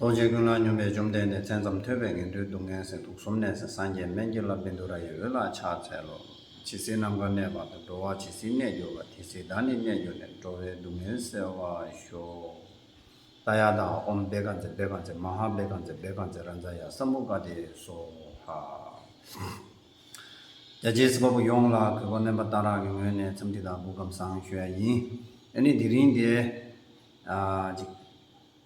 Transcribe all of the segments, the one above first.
རྡོ་རྗེ་ཀུན་སྣང་སྙོམས་པས་བཅོམ་ལྡན་འདས་མཚན་ཙམ་ཐོས་པས་ངན་འགྲོའི་སྡུག་བསྔལ་སེལ་དུག་གསུམ་ནད་སེལ་སངས་རྒྱས་སྨན་གྱི་བླ་བི་མདོ་ར་ཡི་འོད་ལ་ཕྱག་འཚལ་ལོ། ཇི་སྲིད་ནམ་མཁའ་གནས་བར་དུ་འགྲོ་བ་ཇི་སྲིད་གནས་གྱུར་པ་དེ་སྲིད་བདག་ནི་གནས་གྱུར་ནས་འགྲོ་བའི་སྡུག་བསྔལ་སེལ་བར་ཤོག། རྟ་ཡ་དྭ་ཨོམ་བེ་ཀ་ཛེ་བེ་ཀ་ཛེ་མ་ཧཱ་བེ་ཀ་ཛེ་བེ་ཀ་ཛེ་ར་མཛ་ཡ་ས་མུ་ཀ་དེ་སོ་ཧ། རྒྱ་རྗེའི་སྲིད་པ་པོ་ཡོངས་ལ་གུས་པ་དམན་པ་གཏང་རག་གི་ངོས་ནས་འཚམས་འདྲི་དང་གུས་སྒམ་བཟང་ཞུ་ཡ་ཡིན། ཨེ་ནི་དེ་རིང་དེ།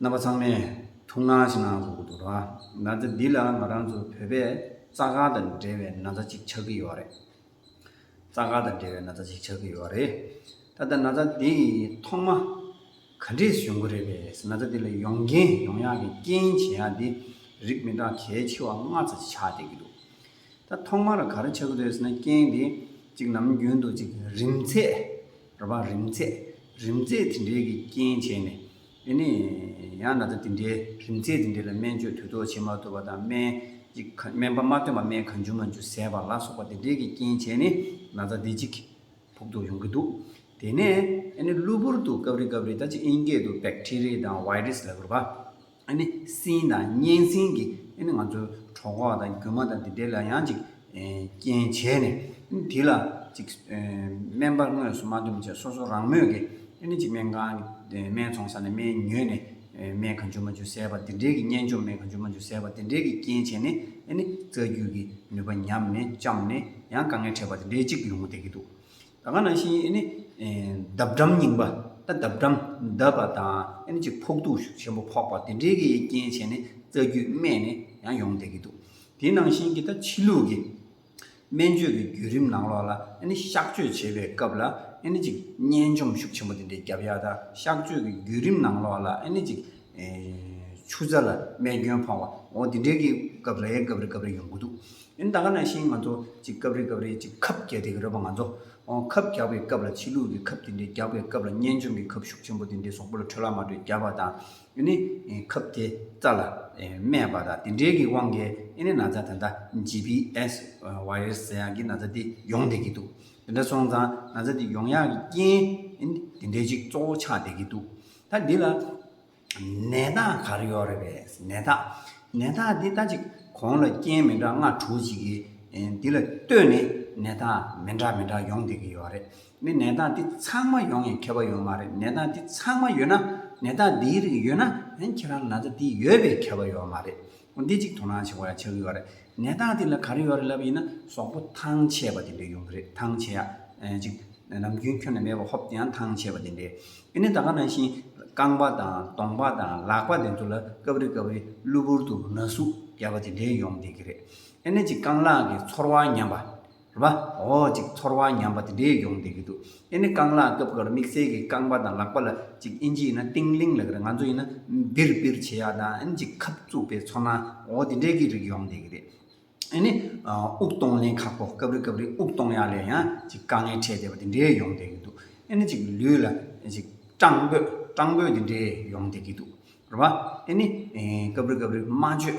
རྣམ་པ་ཚང་མས་ཐུགས་སྣང་ཞིག་གནང་དགོས་ཀྱི་འདུག་ན་ཚ་འདི་ལ་ང་རང་ཚོ་བོད་པས་རྩ་ཁང་དང་འབྲེལ་བའི་ན་ཚ་གཅིག་ཆགས་ཀྱི་ཡོད་རེད། རྩ་ཁང་དང་འབྲེལ་བའི་ན་ཚ་གཅིག་ཆགས་ཀྱི་ཡོད་རེད། ད་ལྟ་ན་ཚ་འདི་ཐོག་མ་ག་འདྲས་སུ་ཡོང་གི་རེད་པས་ན་ཚ་འདི་ལ་ཡོང་རྐྱེན་ཡོང་ཡག་གི་རྐྱེན་བྱེད་ཡག་འདི་རིགས་མི་འདྲ་གལ་ཆེ་བ་ལྔ་ཚ་གཅིག་ཆགས་བསྡད་ཀྱི་འདུག་ད་ཐོག་མར་ག་རེ་བྱ་གི་རེད་ཟེར་ན་རྐྱེན་འདི་གཅིག་ནམ་རྒྱུན་དུ་གཅིག་རིམ་ཚད་རེད་པ་རིམ་ཚད་རིམ་ཚད་དེ་འདྲའི་གི་རྐྱེན་བྱས་ནས། དེ་ནས་ཡང་ན་ཚ་དེ་འདྲའི་རིམས་ཚད་དེ་འདྲའི་ལ་སྨན་བཅོས་དུས་ཐོག་བྱེད་མ་ཐུབ་པ་དང་སྨན་པ་མ་ཐོན་པ་སྨན་གང་འཇུ་མ་འཇུ་ཟད་པ་ལ་སོགས་པ་དེ་འདྲའི་གི་རྐྱེན་བྱས་ནས་ན་ཚ་དེ་ཅིག་ཕོག་ཐུག་ཡོང་གི་འདུག་དེ་ནས་ཨ་ནི་གློ་བུར་དུ་སྐབས་རེ་སྐབས་རེ་ད་ཅི་ཨིན་སྐད་དུ Bacteria དང Virus ལ་གུར་པ་ཨ་ནི་སྲིན་དང་གཉན་སྲིན་གི་ཨ་ནི་ང་ཚོའི་གྲོགས་ཁོག་དང་རྒྱུ་མ་དང་དེ་འདྲའི་ལ་ཡང་ཅིག་རྐྱེན་བྱས་ནས། དེ་ལ་ཅིག། སྨན་པར་དངོས་སུ་མ་འདུམ་བཅས་སོ་སོ་རང་མོས་ཀྱིས། ཅིག་སྨན་ཁང་གི་སྨན་འཚོང་ས་ནས་སྨན་ཉོས་ནས། སྨན་གང་བྱུང་མ་བྱུང་བཟས་པ་དེ་འབྲེལ་གྱི་གཉན་འཇོམས་སྨན་གང་བྱུང་མ་བྱུང་བཟས་པ་དེ་འབྲེལ་གྱི་རྐྱེན་བྱས་ནས། རྩ་རྒྱུད་ཀྱི་ནུས་པ་ཉམས་ནས་བཅངས་ནས་ཡང་དཀའ་ངལ་འཕྲད་པ་དེ་འདྲའི་ཅིག་ཡོང་གི་བསྡད་ཀྱི་འདུག་ད་ག་ནང་བཞིན། འདབ་འགྲམ་རྙིང་པ། འདབ་འགྲམ་འདབ་པ་དང། ཅིག་ཕོག་དུག་ཞིག་ཆེན་པོ་ཕོག་པ་དེ་འདྲའི་གྱི་རྐྱེན་བྱས་ནས་རྩ་རྒྱུད་རྨས་ནས་ཡང་ཡོང་གི་བསྡད་ཀྱི་འདུག། དེ་ནང་བཞིན་གྱི་ད་ཕྱི་ལུགས་ཀྱི་སྨན་བཅོས་ཀྱི་བརྒྱུད་རིམ་ནང་ལོགས་ལ་གཤགས་བཅོས་བྱེད་པའི་སྐབས་ལ་གཅིག་གཉན་འཇོམས་ཤུགས་ཆེན་པོ་དེ་འདྲའི་རྒྱབ་ཡ་དང་གཤགས་བཅོས་ཀྱི་བརྒྱུད་རིམ་ནང་ལོགས་ལ་གཅིག་ཆུ་རྩ་ལ་རྨས་སྐྱོན་ཕོག་པ་འོ་དེ་འདྲའི་གི་སྐབས་རེ་སྐབས་རེ་སྐབས་རེ་ཡོང་གི་འདུག་ད་ག་ནང་བཞིན་ང་ཚོ་གཅིག་སྐབས་རེ་སྐབས་རེ་གཅིག་ཁབ་རྒྱག་དེ་གི་རེད་པ་ང་ཚོ་ཁབ་རྒྱག་པའི་སྐབས་ལ་ཕྱི་ལུགས་ཀྱི་ཁབ་དེ་འདྲའི་རྒྱག་པའི་སྐབས་ལ་གཉན་འཇོམས་ཀྱི་ཁབ་ཤུགས་ཆེན་པོ་དེ་འདྲའི་སོག་པོ་ལ་ཁྲོལ་ལ་མ་ཁྲོལ་རྒྱབ་པ་དང། ཨེ་ནི་ཁབ་དེ་རྩ་ལ་སྨས་པ་དང་དེ་འདྲའི་གི་དབང་གིས་ཨེ་ནི་ན་ཚ་དེ་འདྲ GPS Virus ཟེར་ཡང་གི་ན་ཚ་དེ་ཡོང་བསྡད་ཀྱི་འདུག་དེ་འདྲ་སོང་ཙང་ན་ཚ་དེ་ཡོང་ཡག་གི་རྐྱེན་ཨེ་ནི་དེ་འདྲའི་ཅིག་གཙོ་བོ་ཆགས་བསྡད་ཀྱི་འདུག་ད་འདི་ལ་ནད་རྟགས་ག་རེ་ཡོད་རེད་པས་ནད་རྟགས་ནད་རྟགས་འདི་ལྟ་ཅིག་གོང་ལ་རྐྱེན་མི་འདྲ་ལྔ་དྲུག་ཅིག་གིས་འདི་ལ་ལྟོས་ནས་ནད་རྟགས་མི་འདྲ་མི་འདྲ་ཡོང་བསྡད་ཀྱི་ཡོད་རེད་ནི་ནད་རྟགས་འདི་ཚང་མ་ཡོང་ཡང་ཁྱད་པར་ཡོང་མ་རེད་ནད་རྟགས་འདི་ཚང་མ་ཡོད་ན་ནད་རྟགས་འདིའི་རིགས་ཡོད་ན་ཡང་ཁྱེད་རང་ལ་ན་ཚ་འདི་ཡོད་པས་ཁྱད་པར་ཡོང་མ་རེད་འོ་འདི་གཅིག་དོ་སྣང་བྱེད་དགོས་ཡ་ཆགས་ཀྱི་ཡོད་རེད་ནད་རྟགས་འདི་ལ་ག་རེ་ཡོད་རེད་ལབ་པ་ཡིན་ན་ཟོག་པོ་ཐང་ཆད་པ་དེ་འདྲས་ཡོང་གི་རེད་ཐང་ཆད་ཡ་གཅིག་ནམ་རྒྱུན་ཁྱོན་ནས་མེད་པ་ཧོབ་དེ་ཡང་ཐང་ཆད་པ་དེ་འདྲས་ཨེ་ནས་ད་ག་ནང་བཞིན་རྐང་པ་དང་གདོང་པ་དང་ལག་པ་དེ་ཚོ་ལ་སྐབས་རེ་སྐབས་རེ་གློ་བུར་དུ་ན་ཟུག་རྒྱབ་པ་དེ་འདྲས་ཡོང་བསྡད་ཀྱི་རེད་ཨེ་ནས་གཅིག་རྐང་ལག་གི་ཚོར་བ་ཉམས་པ། བ། འོ་ཅིག་ཚོར་བ་ཉམས་པ་དེ་འདྲའི་ཡོང་བསྡད་ཀྱི་འདུག་ཨེ་ནི་རྐང་ལག་རྐབ་ཀར་དམིགས་བསལ་གྱི་རྐང་པ་དང་ལག་པ་ལ་ཅིག་ཨིན་ཇིའི་ཡིན་ན་ཏིང་ལིང་ལགས་རེད་ང་ཚོ་ཡིན་ན་བིར་བིར་བྱེད་ཡག་དང་ཨིན་ཅིག་ཁབ་བཙུགས་པའི་ཚོར་སྣང་འོ་དེ་འདྲའི་གི་རིགས་ཡོང་བསྡད་ཀྱི་རེད། ཨེ་ནི་དབུགས་གཏོང་ལེན་ཁག་པོ་སྐབས་རེ་སྐབས་རེ་དབུགས་གཏོང་ཡག་ལས་ཡང་ཅིག་དཀའ་ངལ་འཕྲད་བསྡད་པ་དེ་འདྲའི་ཡོང་བསྡད་ཀྱི་འདུག་ཨེ་ནི་ཅིག་ལུས་ལ་ཅིག་སྐྲངས་འབོད་སྐྲངས་འབོད་དེ་འདྲའི་ཡོང་བསྡད་ཀྱི་འདུག་བ། ཨེ་ནི་སྐབས་རེ་སྐབས་རེ་སྨྲ་བརྗོད།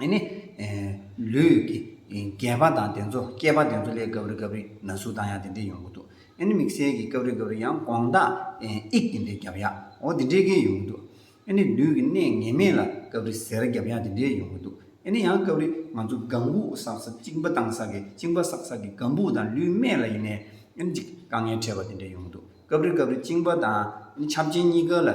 ནི། ལུས་ཀྱི་རྒྱས་པ་དང་དེ་ཚོ་སྐྱེས་པ་དེ་ཚོ་ལས་སྐབས་རེ་སྐབས་རེ་ན་ཟུག་དང་ཡང་དེ་འདྲས་ཡོང་གི་འདུག་ཨེ་ནི་དམིགས་བསལ་གྱི་སྐབས་རེ་སྐབས་རེ་ཡང་དགོངས་དག་ཨིག་དེ་འདྲས་བརྒྱབ་ཡ་འོ་དེ་འདྲས་ཀས་ཡོང་གི་འདུག་ཨེ་ནི་ལུས་ཀྱི་གནས་ངེས་མེད་ལ་སྐབས་རེ་ཟེར་བརྒྱབ་ཡ་དེ་འདྲས་ཡོང་གི་འདུག་ཨེ་ནི་ཡང་སྐབས་རེ་ང་ཚོ་སྒམ་སྦུག་བསགས་ས་གཅིག་འབའ་ཐང་བསགས་གི་གཅིག་འབའ་བསགས་བསགས་གི་སྒམ་སྦུག་དང་ལུས་སྨད་ལ་ཡིན་ནའི་ཨེ་ནི་གཅིག་དཀའ་ངལ་འཕྲད་པ་དེ་འདྲས་ཡོང་གི་འདུག་སྐབས་རེ་སྐབས་རེ་བཅིངས་པ་དང་འཆམ་མཆན་གཉིས་ཀ་ལ་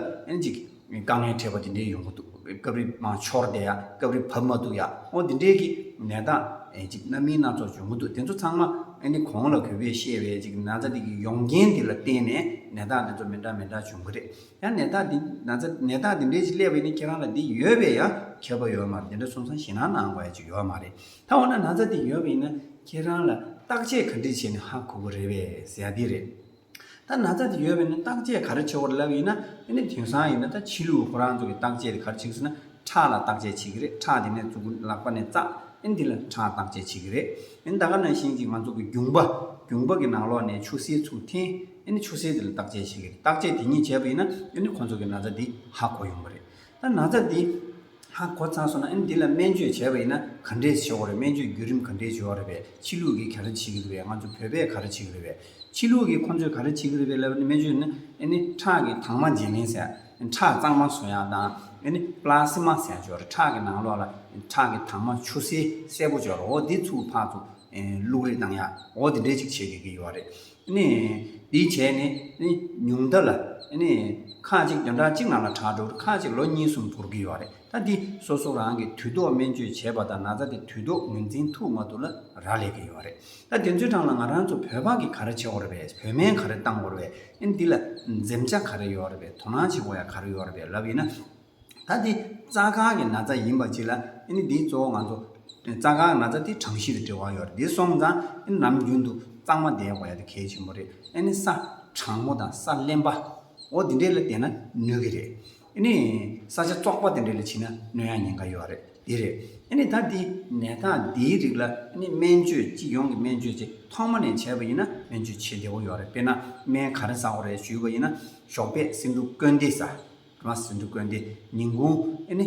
ཅིག་དཀའ་ངལ་འཕྲད་པ་དེ་འདྲའི་ཡོང་གི་འདུག་སྐབས་རེ་མང་འཆོར་བསྡད་ཡ་སྐབས་རེ་བབས་མ་འདུག་ཡ་འོ་དེ་འདྲའི་གནས་སྟངས་ཅིག་རྣམ་སྨིན་སྣ་ཚོགས་བྱུང་གི་འདུག་དེ་ཚོ་ཚང་མ་གོང་ལ་གུས་པས་བཤད་པའི་ཅིག་ན་ཚ་འདི་གི་ཡོང་རྐྱེན་དེ་ལ་བརྟེན་ནས་གནས་སྟངས་དེ་ཚོ་མི་འདྲ་མི་འདྲ་བྱུང་གི་རེད་ཡ་གནས་སྟངས་དེ་ན་ཚ་གནས་སྟངས་དེ་འདྲའི་ཅིག་སླེབས་པ་ཡིན་ན་ཁྱེད་རང་ལ་འདི་ཡོད་པས་ཡང་ཁྱད་པ་ཡོད་མ་རེད་དེ་འདྲ་གསུངས་སང་ཞེད་སྣང་གནང་བ་ཡ་ཅིག་ཡོད་མ་རེད་ད་འོ་ན་ན་ཚ་འདི་ཡོད་པ་ཡིན་ན་ཁྱེད་རང་ལ་བརྟག་དཔྱད་ག་འདྲས་བྱས་ནས་ཧ་གོ་གི་རེད་བས་ཟེར་ཡ་འདི་རེད། ད་ན་ཚ་དེ་ཡོད་པས་ན་བརྟག་དཔྱད་ག་རེ་བྱེད་དགོས་རེད་ལབ་ཡིན་ན་དེ་ནི་དེང་སང་ཡིན་ན་ད་ཕྱི་ལུགས་ཁོ་རང་ཚོ་གི་བརྟག་དཔྱད་དེ་ག་རེ་བྱེད་ཟེར་ན་ཁྲག་ལ་བརྟག་དཔྱད་བྱེད་ཀྱི་རེད་ཁྲག་དེ་ནས་བཙུག་གི་ལག་པ་ནས་བཙག་ཨིན་དེ་ལ་ཁྲག་བརྟག་དཔྱད་བྱེད་ཀྱི་རེད་ཨིན་ད་ག་ནང་བཞིན་གྱི་ང་ཚོ་གི་རྒྱུང་པ་རྒྱུང་པ་གི་ནང་ལོགས་ནས་ཆུ་སེར་ཚུགས་ཐིན་ཨིན་ཆུ་སེར་དེ་ལ་བརྟག་དཔྱད་བྱེད་ཀྱི་རེད་བརྟག་དཔྱད་དེ་ཉིད་བྱས་པ་ཡིན་ན་ཨིན་ཁོ་ཚོ་གི་ན་ཚ་དེ་ཧ་གོ་ཡོང་གི་རེད་ད་ན་ཚ་དེ། ཧ་གོ་ཚར་སོང་ན་ཨ་ནི་འདི་ལ་སྨན་བཅོས་བྱས་པ་ཡིན་ན་ག་འདྲས་བྱེད་དགོས་རེད་སྨན་བཅོས་བརྒྱུད་རིམ་ག་འདྲས་བྱེད་འོག་རེད་པས་ཕྱི་ལུགས་ཀྱིས་ག་རེ་བྱེད་ཀྱི་རེད་པས་ང་ཚོ་བོད་པས་ག་རེ་བྱེད་ཀྱི་རེད་པས་ཕྱི་ལུགས་ཀྱིས་ཁོ་ཚོས་ག་རེ་བྱེད་ཀྱི་རེད་པས་ལབ་པ་ནི་སྨན་བཅོས་ནི་ཨ་ནི་ཁྲག་གི་དྭངས་མ་འབྱིན་གླིང་ཟེར་ཁྲག་གཙང་མ་བཟོ་ཡག་དང་ཨ་ནི་པ་ལ་སི་མ་ཟེར་སྦྱོར་ཁྲག་གི་ནང་ལོགས་ལ་ཁྲག་གི་དྭངས་མ་ཆུ་སེར་སེར་པོ་སྦྱོར་འོག་འདི་ཚུགས་ཕག་ཚུགས་ལུགས་རེ་བཏང་ཡག་འོག་འདི་འདྲས་ཅིག་བྱེད་དགོས་ཀྱི་ཡོད་རེད། འདིའི་བྱས་ནི་ཉུང་མཐའ་ལ། ཁག་ཅིག་བདུན་ཕྲག་གཅིག་ནང་ལ་དྲག་འགྲོ་ཁག་ཅིག་ལོ་གཉིས་གསུམ་འགོར་གྱི་ཡོད་རེད་ད་འདི་སོ་སོ་རང་གིས་དུས་ཐོག་སྨན་བཅོས་བྱས་པ་དང་ན་ཚ་དེ་དུས་ཐོག་ངོས་འཛིན་ཐུབ་མ་ཐུབ་ལ་རག་ལས་ཀྱི་ཡོད་རེད་ད་དེ་ཚོའི་གྲངས་ལ་ང་རང་ཚོ་བོད་ཕག་གིས་ག་རེ་བྱེད་འོ་རེད་པས་བོད་སྨན་ག་རེ་བཏང་འོ་རེད་པས་འདི་ལ་འཛེམ་བྱ་ག་རེ་ཡོད་རེད་པས་དོ་སྣང་བྱེད་འོ་ཡ་ག་རེ་ཡོད་རེད་པས་ལབ་ཡིན་ན། ད་འདི་རྩ་ཁང་གི་ན་ཚ་ཡིན་པ་གཅིག་ལ་ཨེ་ནི་འདིའི་གཙོ་བོ་ང་ཚོ། རྩ་ཁང་གི་ན་ཚ་དེ་གྲངས་གཞི་དང་འབྲེལ་བ་ཡོད་རེད་འདི་སོང་ཙང་ཨེ་ནི་ནམ་རྒྱུན་དུ་གཙང་མ་བསྡད་དགོས་ཡ་དེ་གལ་ཆེན་པོ་རེད་ཨེ་ནི་ས་གྲང་མོ་དང་ས་བརླན་པ། འོ་དེ་འདྲའི་ལ་བསྡད་ན་ནུས་ཀྱི་རེད་ཨེ་ནི། ས་ཆ་བཙོག་པ་དེ་འདྲའི་ལ་ཕྱིན་ན་གནོད་ཡ་ཉེན་ཁ་ཡོད་རེད་འདི་རེད་ཨེ་ནི་ད་འདི་ནད་རྟགས་འདིའི་རིགས་ལ་ཨེ་ནི་སྨན་བཅོས་སྤྱི་ཡོངས་ཀྱི་སྨན་བཅོས་དེ་ཐོག་མ་ནས་བྱས་པ་ཡིན་ན་སྨན་བཅོས་བྱེད་བདེ་བོ་ཡོད་རེད་དཔེར་ན་སྨན་ག་རེ་ཟ་འོ་རེད་ཞུས་པ་ཡིན་ན་ཞོགས་པས་སེམས་འཁྲུག་སྐོན་དེ་ཟ། ང་སིནྡྷུ་དགོན་དེ་ཉིན་གུང་ཨེ་ནི།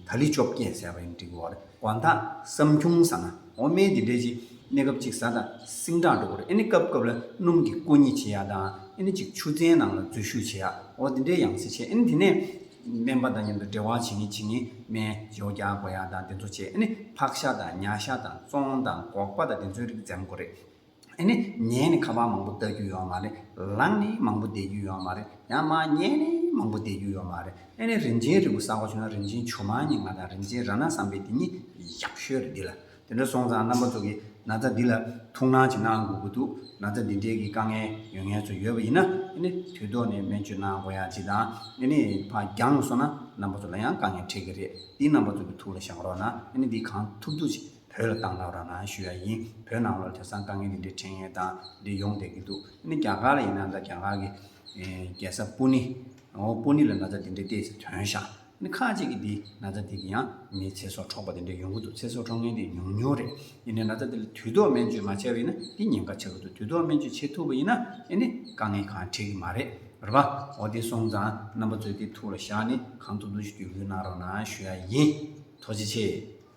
ད་ལི་བཅོ་བརྒྱད་ཟེར་བ་ཡིན་འགྲིག་གི་འོ་རེད་དགོན་བདག་བསམ་ཁྱུང་ཟ་ན་འོ་སྨན་འདི་འདྲས་ཅིག་གནས་སྐབས་གཅིག་བཟའ་དང་སིང་སྦྲང་འགྲོ་གི་རེད་ཨེ་ནི་སྐབས་སྐབས་ལ་སྣུམ་གྱི་སྐུ་གཉིས་བྱེད་ཡ་དང་ཨེ་ནི་གཅིག་ཆུ་ཚན་ནང་ལ་འཛུལ་ཞུགས་བྱེད་ཡ་འོ་འདི་འདྲས་ཡང་སྲིད་བྱེད་ཨེ་ནི་དེ་ནས་སྨན་པ་དང་མཉམ་དུ་འབྲེལ་བ་བྱེད་ངེས་བྱེད་ངེས་སྨན་ཇོ་བརྒྱག་དགོས་ཡ་དང་དེ་ཚོ་བྱེད་ཨེ་ནི་ཕག་ཤ་དང་ཉྭ་ཤ་དང་ཙོང་དང་སྒོག་པ་དང་དེ་ཚོའི་རིགས་འཛེམ་དགོས་རེད། ཨེ་ནི། ཉལ་ནི་ཁ་བ་མང་པོ་ལྟ་རྒྱུ་ཡོད་བ་མ་རེད། ལངས་ནི་མང་པོ་བསྡད་རྒྱུ་ཡོད་བ་མ་རེད། ཡང་མ་ཉལ་ནི་མང་པོ་བསྡད་རྒྱུ་ཡོད་བ་མ་རེད། ཨེ་ནི། རིན་ཆེན་རིལ་བུ་བསགས་པ་བྱུང་ན་རིན་ཆེན་ཆུ་མ་ནི་ང་དང་རིན་ཆེན་ར་ན་བསམ་པའི་དེ་ཉིད་ཡག་ཤོས་རེད་འདི་ལ། དེ་འདྲ་སོང་ཙང་རྣམ་པ་ཚོ་གིས་ན་ཚ་འདི་ལ་ཐུགས་སྣང་ཅིག་གནང་དགོས་ཀྱི་འདུག་ན་ཚ་འདི་འདྲེའི་གི་དཀའ་ངལ་ཡོད་ངལ་ཚོ་ཡོད་བ་ཡིན་ན་ཨེ་ནི། དུས་ཐོག་ནས་སྨན་བཅོས་གནང་དགོས་ཡ་ཅིག་དང་ཨེ་ནི། ཕ་རྒྱང་སོང་ན་རྣམ་པ་ཚོ་ལ་ཡང་དཀའ་ངལ་འཕྲད་ཀྱི་རེད་འདི་རྣམ་པ་ཚོ་གི་ཐུགས་ལ་བཞག་རོགས་གནང་ཨེ་ནི་འདི་གང་ཐུབ་ཐུབ་ཅིག། བོད་ལ་བཏང་ཐག་རང་རང་ཞུས་ཡ་ཡིན་བོད་ནང་ལོར་དེང་སང་དཀའ་ངལ་འདི་འདྲའི་འཕྲད་ངེས་དང་འདི་ཡོང་བསྡད་ཀྱི་འདུག་ཨ་ནི་རྒྱ་གར་ལ་ཡིན་ནའང་འདྲ་རྒྱ་གར་གྱི་རྒྱལ་ས་པུ་ནི་ཨོ་པུ་ནི་ལ་ན་ཚ་འདི་འདྲའི་ལྟས་ཚེ་དོན་ཤ་ནི་ཁ་ཅིག་གིས་འདི་ན་ཚ་འདི་གི་ཡང་མིའི་ཚེ་སྲོག་འཕྲོག་པ་འདི་འདྲ་ཡོང་གི་འདུག་ཚེ་སྲོག་འཕྲོག་མཁན་འདི་ཉུང་ཉུང་རེད་ཨེ་ནི་ན་ཚ་འདི་ལ་དུས་ཐོག་སྨན་བཅོས་མ་བྱས་པ་ཡིན་ན་འདི་ཉེན་ཁ་ཆེ་གི་འདུག་དུས་ཐོག་སྨན་བཅོས་བྱེད་ཐུབ་པ་ཡིན་ན་ཨེ་ནི་དཀའ་ངལ་གང་འཕྲད་ཀྱི་མ་རེད་རེད་པ་འོ་དེ་སོང་ཙང་རྣམ་པ་ཚོས་དེ་ཐུགས་ལ་བཞག་ནི་གང་ཐུབ་ཐུབ་ཞིག་བསྒྱུར་བསྐུལ་གནང་རོགས་གནང་ཞུ་ཡ་ཡིན་ཐུགས་རྗེ་ཆེ།